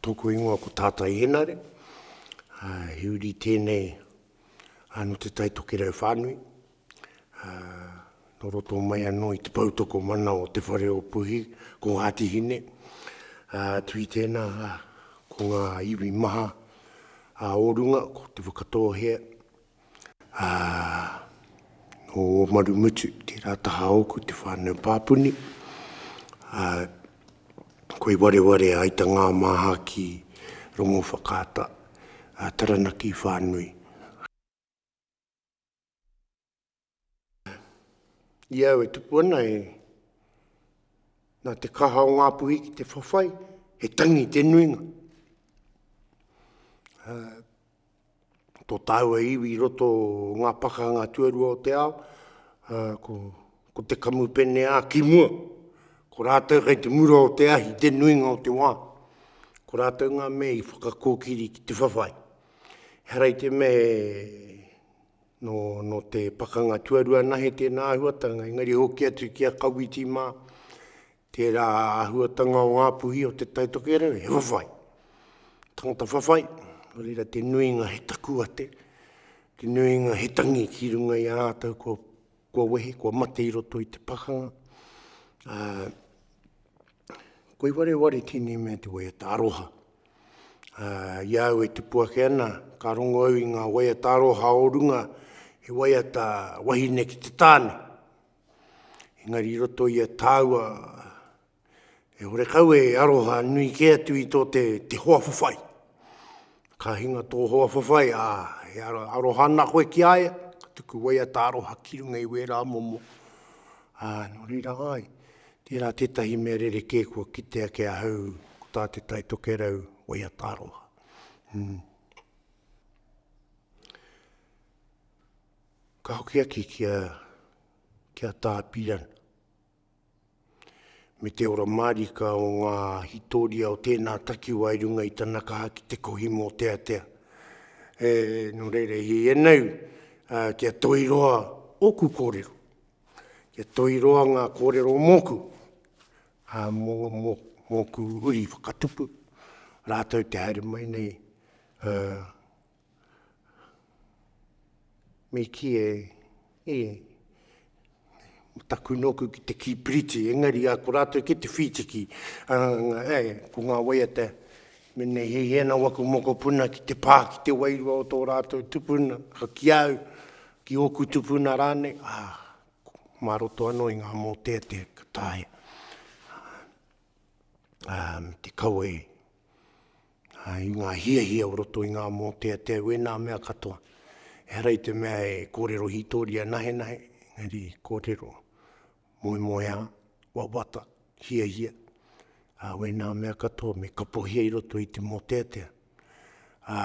Tōku ingoa ko Tātai Henare, he uri tēnei nō Te Tai Tokerau whānui, nō roto mai anō i te poutokomana o Te Whare o Puhi, ko Ngāti Hine. Tui tēnā ko ngā iwi maha o runga, ko Te Whakatōhea, Ā, nō Ōmarumutu tērā taha ōku te whānau pāpuni, ā, koi wareware ai ta ngā māha ki Rongowhakaata, ā, Taranaki whānui. I au e tupu ana e, nā te kaha o ngā puhi ki te whawhai, he tangi te nuinga. Uh, tō tāua iwi i roto o ngā pakanga tuarua o te ao, uh, ko, ko te kamupene a ki mua, ko rātou kei te mura o te ahi, te nuinga o te wā. Ko rātou ngā mea i whakakōkiri ki te whawhai. Harai te me Nō te Pakanga Tuarua Nahe tēnā āhuatanga, engari hoki atu ki a Kawiti mā, tērā āhuatanga o ngā puhi o Te Tai Tokerau, he whawhai. Tangata whawhai, nō reira te nuinga he takuate, te nuinga he tangi ki runga i a rātou kua kua wehi, kua mate i roto i te pakanga, ā, koi wareware tēnei mea te waiata aroha. Ā, i a au e tipu ake ana, ka rongo au i ngā waiata aroha o runga, he waiata wahine ki te tāne. Engari i roto i a tāua E horekau e aroha nui ke atu i tō te, te hoa whawhai. Ka hinga tō hoa whawhai, ā, e aroha ana koe ki a ia, ka tuku waiata aroha ki runga i wērā momo. Ā, nō reira ai, tērā tētahi mea rerekē kua kitea ki ahau, ko tā te Taitokerau waiata aroha. Mm. Ka hoki aki ki a, ki a Tā Pirana. me te ora mārika o ngā hitoria o tēnā takiwā i runga i tana kaha ki te kohi mōteatea. E, nō reira, i ēnei, uh, kia toi roa ōku kōrero, kia toi roa ngā kōrero mōku, uh, mō, mō, mōku uri whakatupu, rātou te haere mai nei, uh, Me kī, e, e, taku nōku ki te kīpiriti, engari a ko rātou ki te whītiki, a, e, ko ngā waiata, mena he hiena waku mokopuna ki te pā, ki te wairua o tō rātou tupuna, ki au, ki ōku tupuna rānei, a, mā roto anō i ngā mōteatea ka taea, a, te kawe, ā, i ngā hiahia o roto i ngā mōteatea, wēnā mea katoa. Ehara i te mea e kōrero hītoria nahenahe, engari kōrero moemoeā, wawata, hiahia, ā, wēnā mea katoa me kapohia i roto i te mōteatea. Ā.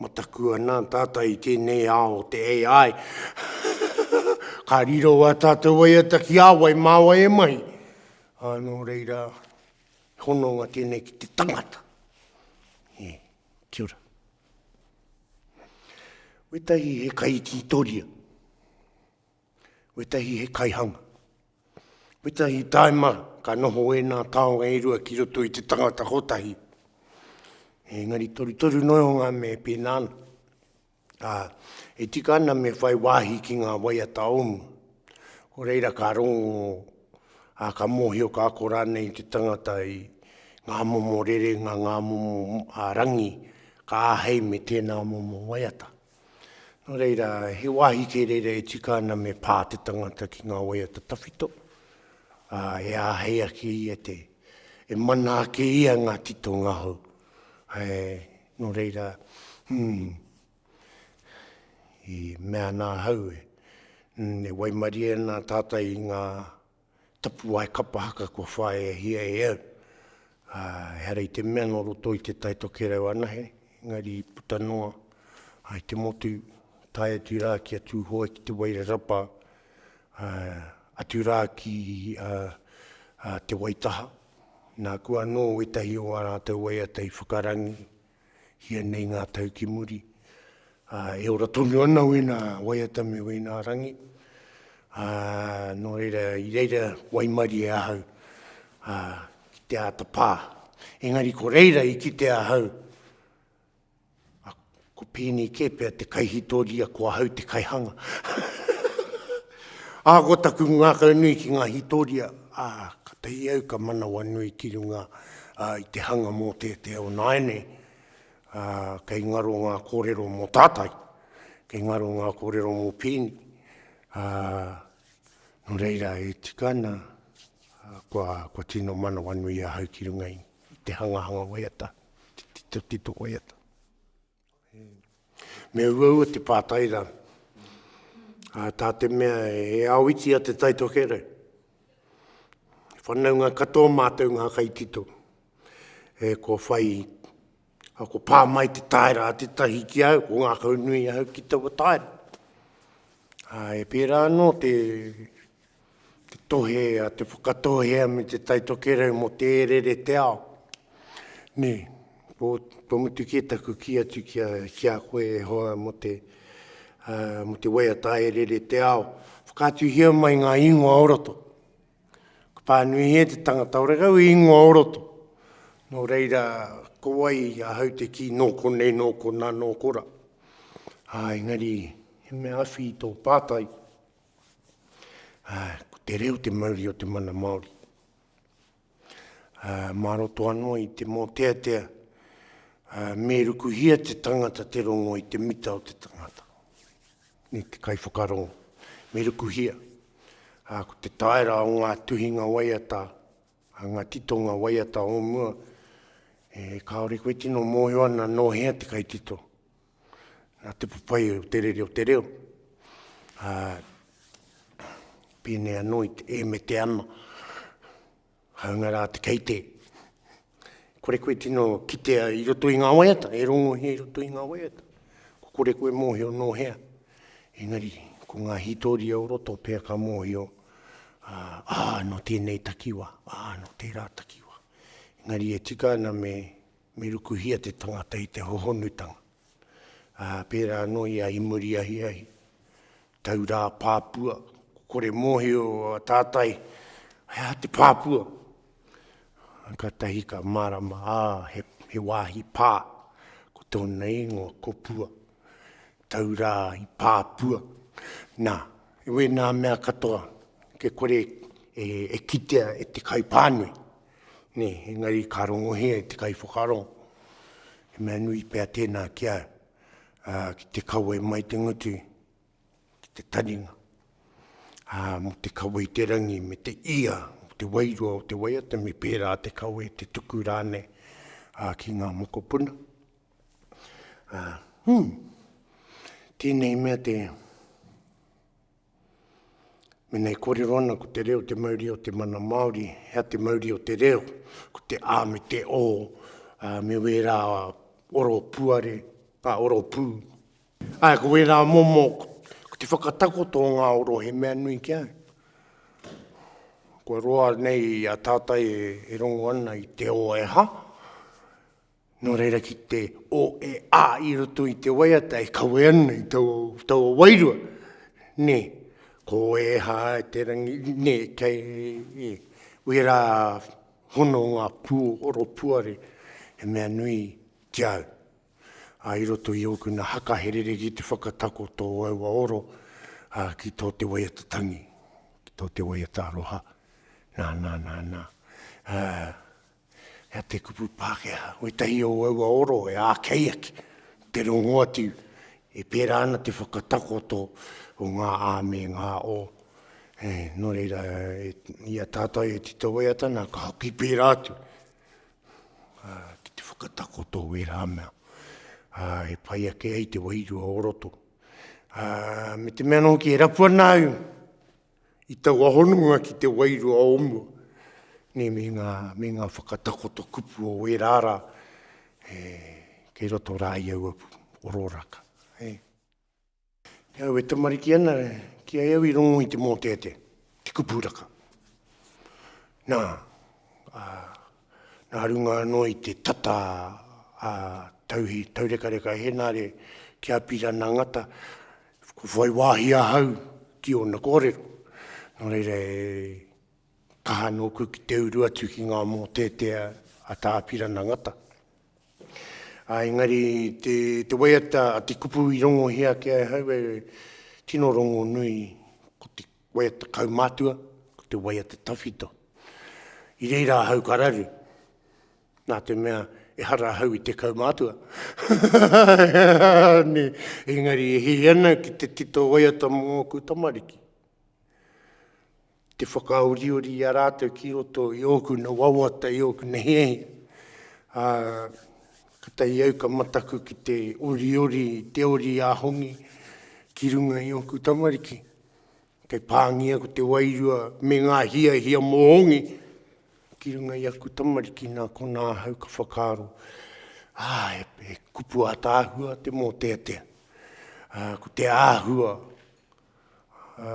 Mataku ana tātou i tēnei ao o te AI. Ka riro a tātou waiata ki a wai, mā wai e mahi. Anō reira, hononga tēnei ki te tangata. Yeah. Kia ora. Wetahi he kai tītoria. Wetahi he kaihanga. Wetahi taima ka noho ēnā taonga e rua ki roto i te tangata kotahi. Engari torutoru noa o ngā mea e pēnā ana. Ā, e tika ana me whai wāhi ki ngā waiata o mua. Ko reira ka rongo, ā, ka mōhio ka ako rānei te tangata i ngā momo rerenga, ngā momo rangi ka āhei me tēnā momo waiata. Nō reira, he wāhi kē reira e tika ana me pā te tangata ki ngā waiata tawhito, ā, e āhei ake ia te, e mana ake ia ngā titonga hou. He, nō reira, hmm, i mea ana ahau e, hmm, e waimarie ana tātai i ngā, tapuwae kapa haka kua whāiahia e au. Ā, ehara i te mea nō roto i Te Tai Tokerau anahe, engari i puta noa ai te motu, tae atu rā ki a Tūhoe, ki Te Wairarapa, ā, atu rā ki a, a Te Waitaha. Nāku anō wētahi o ā rātou waiata i whakarangi, hia nei ngā tau ki muri, ā, e ora tonu ana wēnā waiata me wēnā rangi, ā, nō reira, i reira waimarie ahau, ā, ki te āta pā. Engari ko reira i kite ahau, ā, ko pēnei kē pea te kaihitoria ko ahau te kaihanga. Ā, ko taku ngākau nui ki ngā hītoria, ā, ka tahi au ka manawanui ki runga i te hanga mō te te ao nāianei. Ā, kei ngaro ngā kōrero mō tātai, kei ngaro ngā kōrero mō Pēni. Ā, nō reira, e tika ana, kua, kua tino manawanui ahau ki runga i te hangahanga waiata, te titotito waiata. Me uaua te pātai rā. Uh, tā te mea e awiti a te taitokerau. E whanaunga katoa mātou ngā kaitito. E ko whai, a ko pā mai te taera a te tahi ki au, ko ngā kaunui au ki taua taera. Uh, e pērā anō te, Te tohe a Te Whakatōhea me Te Tai Tokerau mō te ērere te ao. Nē, ko, kua mutu kē taku kī atu ki a, ki a koe e hoa mō te, uh, mō te waiata ērere te ao. Whakaatuhia mai ngā ingoa o roto. Ka pānuihia te tangata o rega i ingoa o roto. Nō reira, ko wai ahau te kī nō konei, nō kona, nō kora. Ā, engari, he mea awhi tō pātai. Ko te reo te mauri o te mana Māori. Mā roto anō i te mōteatea, me rukuhia te tangata te rongo i te mita o te tangata. Ni te kai whakarongo. Me rukuhia. Ko te taera o ngā tuhinga waiata, ngā titonga waiata o mua, e kāore koe tino mōhio ana nō hea te kaitito. Nā te whawhai o te rere o te reo, ā, pēnei anō i te e me te ana, hāunga rā te kei te. Kore koe tino kitea i roto i ngā waiata, e rongohia i roto i ngā waiata. Ko kore koe mōhio nō hea, engari ko ngā hītoria o roto pea ka mōhio, ā, ā, nō tēnei takiwā, ā, nō tērā takiwā. Engari e tika ana me Me rukuhia te tangata i te hohonutanga, ā, pērā anō i a Imuriahiahi, taurā pāpua, ko kore mōhio a tātai, he aha te pāpua? Kātahi ka mārama, ā, he, he wāhi pā, ko tōna ingoa ko Pua, taurā i pāpua. Nā, e wēnā mea katoa, kia kore e, e kitea e te kaipānui. Nē, engari ka rongohia e te kaiwhakaaro, he mea nui pea tēnā ki au, ā, ki te kawe mai te ngutu ki te taringa, ā, mō te kawe i te rangi me te ia o te wairua o te waiata me pērā te kawe, te tuku rānei, ā, ki ngā mokopuna. Ā, hū, tēnei mea te. Mēnā e kōrero ana ko te reo te mauri o te mana Māori, he aha te mauri o te reo? Ko te ā me te ō, ā, me wērā oro puare, ā, oro pū. Āe, ko wērā momo, ko te whakatakoto o ngā oro he mea nui ki au. Kua roa nei a tātai e, e rongo ana i te ō e aha? Nō reira ki te o e a i roto i te waiata e kawe ana i taua, taua wairua, nē, ko ēhā te rangi, nē, kei e, wērā hono ngā pūoro puare, he mea nui ki au. Ā, i roto i ōku nā haka he rere ki te whakatako tō aua oro, ā, ki tō te waiata tangi, ki tō te waiata aroha, nā, nā, nā, nā. Ā, Hea te kupu Pākehā? Koitahi o aua oro e ākei ake, te rongo atu e pērā ana te whakatakoto o ngā ā me ngā o. E, nō reira, e, i a tātou e Tito Waiatana, ka hoki pērā atu a, ki te whakatakoto o ērā mea a, e pai ake ai te wairua o roto. A, me te mea nō ki e rapu ana au, I taua hononga ki te wairua o mua, nei me ngā, me ngā whakatakoto kupu o wērā rā, e, kei roto rā i aua ororaka. Hei. Ki au e tamariki ana, ki ai au i rongo i te mōteatea, te kupuraka. Nā, a, Nā runga anō i te tata a Tauhi Taurekareka Henare ki a Pirana Ngata, ko whai wāhi ahau ki ōna kōrero. Nō reira e kaha nōku ki te uru atu ki ngā mōteatea a Tā Pirana Ngata. Ā, engari te, te waiata a te kupu i rongohia ake ai ahau e tino rongonui, ko te Wai a te kaumātua, ko te wai a te tawhito. I reira ahau ka raru, nā te mea ehara ahau i te kaumātua. ne, engari e hī ana ki te tito waiata mō ngōku tamariki. Te whakaoriori i a rātou ki roto i ōku na wawata, i ōku na hiahia. Ā, ka tahi au ka mataku ki te oriori, te ori a hongi ki runga i ōku tamariki. kei pāngia ko te wairua me ngā hiahia mōhongi ki runga i aku tamariki nā konā ahau ka whakaaro. Ā, e, e kupu atāhua te mōteatea. Ā, ko te āhua, ā,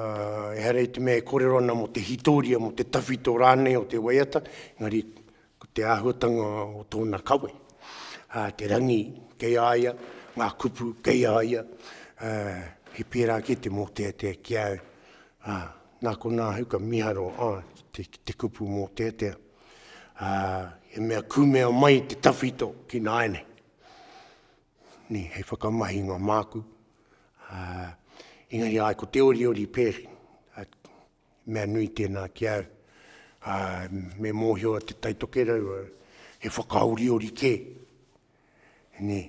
ehara i te mea e korero ana mō te hitoria, mō te tawhito rānei o te waiata, engari Ko te āhuatanga o tōna kawe, te rangi kei a ia, ngā kupu kei a ia, he pērā ake te mōteatea ki a au. Nā konā ahau ka miharo ki te kupu mōteatea, he mea kumea mai te tawhito ki nāianei. Hei whakamahinga māku, engari āe ko te oriori pēhi, Mea nui tēnā ki au, ā, me mōhio a Te Tai Tokerau au, he whakaoriori kē. Nē,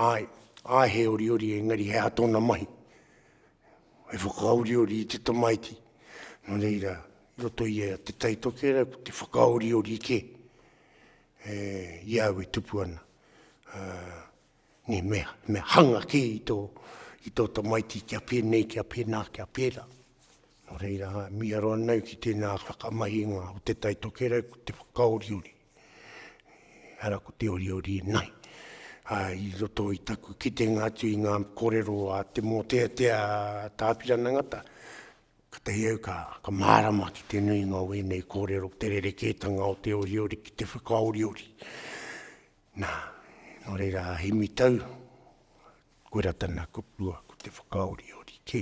āe, āe he oriori engari he aha tōna mahi? He whakaoriori i te tamaiti. Nō reira, i roto i a Te Tai Tokerau, ko te whakaoriori kē, e, i a au e tupu ana. Ā. Ne, me, me hanga kē i tō, i tō tamaiti kia pēnei, kia pēnā, kia pērā. Nō reira, miharo ana au ki tēnā whakamahinga o te tai tokerau, ko te whakaoriori. Ara ko te oriori e nai. A, i roto i taku kitenga atu i ngā korero a te mōteatea tāpirana ngata, ka tahi au ka, ka mārama ki te nuinga o ēnei kōrero, te rerekētanga o te oriori ki te whakaoriori. Nā, nō reira a Hemi Tau, koirā tana kupu, ko te whakaoriori kē.